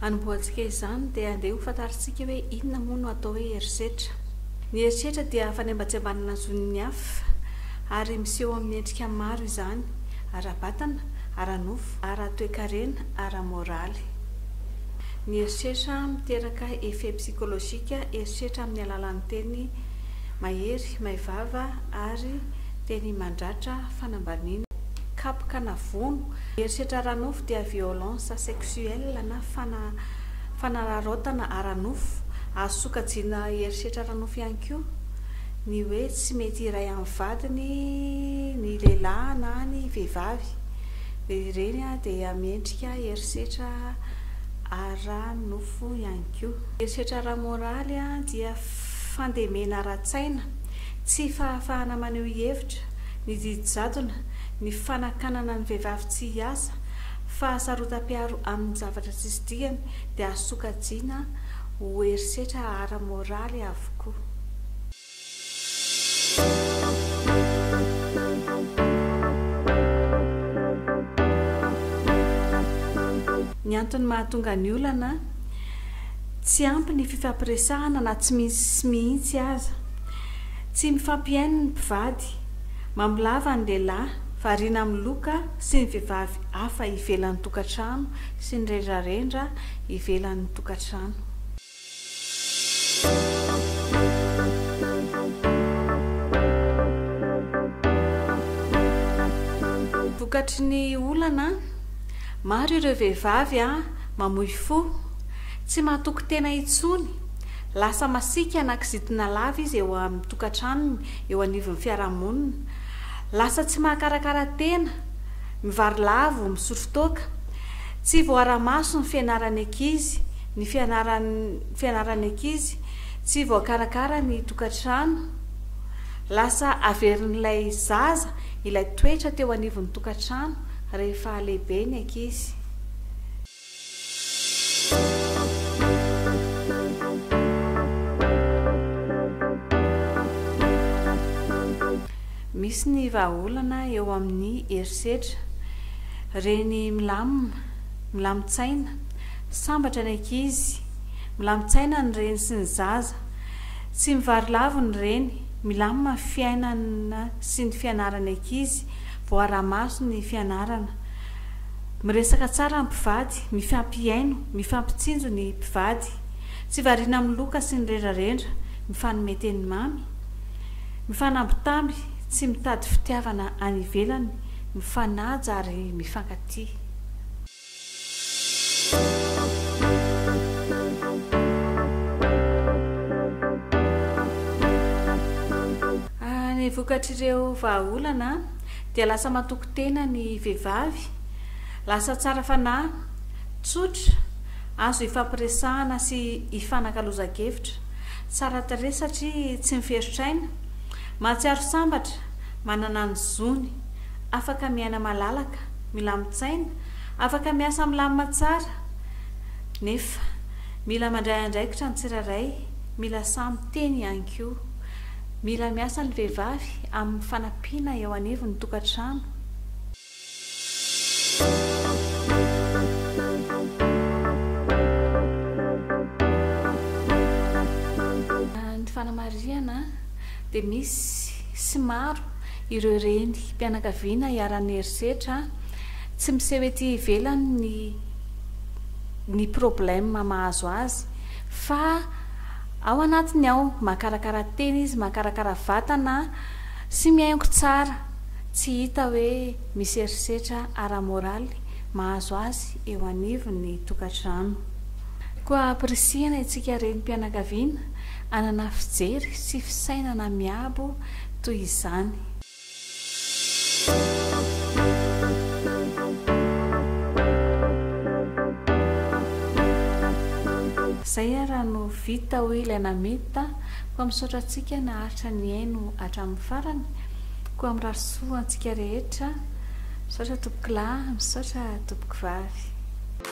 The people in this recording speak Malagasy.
Hanombohantsika izany dia andeha ho fantarintsika hoe inona moa no atao hoe herisetra. Ny herisetra dia fanembatsembanana zon'ny hafa ary miseho amin'ny endrika maro izany, ara-batana, ara-nofo, ara-toekarena, ara-moraly. Ny herisetra miteraka effet psychologique herisetra amin'ny alalan'ny teny mahery, maivava ary teny mandratra fanambaniana. kapoka na vono, herisetra ara-nofo dia violence sexuelle na fana, fanararaotana ara-nofo, azo sokajiana herisetra ara-nofo ihany koa ny hoe tsy mety hiray amin'ny vadiny ny lehilahy na ny vehivavy, dia ireny dia miendrika herisetra ara-nofo ihany koa. Herisetra ara-moraly dia fandemena ara-tsaina, tsy fahafahana maneho hevitra, ny didy jadona, ny fanakanana ny vehivavy tsy hiasa, fahasarotam-piaro amin'ny zavatra tsisy dikany dia azo sokajiana ho herisetra ara-moraly avokoa. Ny antony mahatonga ny olana, Tsy ampy ny fifampiresahana na tsy misy mihitsy aza. Tsy mifampihaino ny mpivady. Mamolava ny lehilahy, variana amin'ny loka sy ny vehivavy hafa ivelan'ny tokantrano sy ny rendrarendra ivelan'ny tokantrano. Vokatry ny olana, maro ireo vehivavy mamoy fo, tsy mahatoky tena intsony, Lasa masiaka na kizitina lava izy eo amin'ny tokantranony, eo anivon'ny fiarahamonina. Lasa tsy mahakarakara tena, mivarilavo, misotro toaka. Tsy voaara-maso ny fianaran'ny ankizy, ny fianaran'ny fianaran'ny ankizy. Tsy voakarakara ny tokantrano. Lasa averin'ilay zaza ilay toetra teo anivon'ny tokantrano rehefa lehibe ny ankizy. Misy ny vahaolana eo amin'ny herisetra. Reny milamina, milamin-tsaina, sambatra ny ankizy, milamin-tsaina ny reny sy ny zaza. Tsy mivarilavo ny reny, milamina ny fiainana sy ny fianaran'ny ankizy, voaraha-maso ny fianarana. Miresaka tsara ny mpivady, mifampihaino, mifampitsinjo ny mpivady, tsy variana amin'ny loka sy ny rendrarendra, mifanome teny mamy, mifanambitamby, tsy mitady fitiavana any ivelany, mifanaja ary mifankatia. Ny vokatr'ireo vahaolana dia lasa matoky tena ny vehivavy, lasa tsara fanahy, tsotra, azo ifampiresahana sy ifanakalozan-kevitra, tsara tarehy satria tsy miferotr'aina, mahatsiaro sambatra, manana ny zony, afaka miaina malalaka, milamin-tsaina, afaka miasa milamina tsara, nefa mila mandray andraikitra ny tsirairay, mila sahy miteny ihany koa. Mila miasa ny vehivavy amin'ny fanampiana eo anivon'ny tokantrano. Ny fanamarihana dia misy sy maro ireo renim-pianakaviana iharan'ny herisetra tsy miseho ety ivelany ny ny problème mahazo azy fa Ao anatiny ao, makarakara tena izy, makarakara vatana sy mihaingo tsara, tsy hita hoe misy herisetra ara-moraly mahazo azy eo anivon'ny tokantrano. Koa ampirisihana isika renim-pianakaviana hanana fijery sy fisainana miabo toy izany. Zay ara no vita oe ilay nameta fa misaotra antsika naharitra nihaino hatramin'ny farany koa mirary soa antsika rehetra misaotra tompokolahy misaotra tompoko vavy.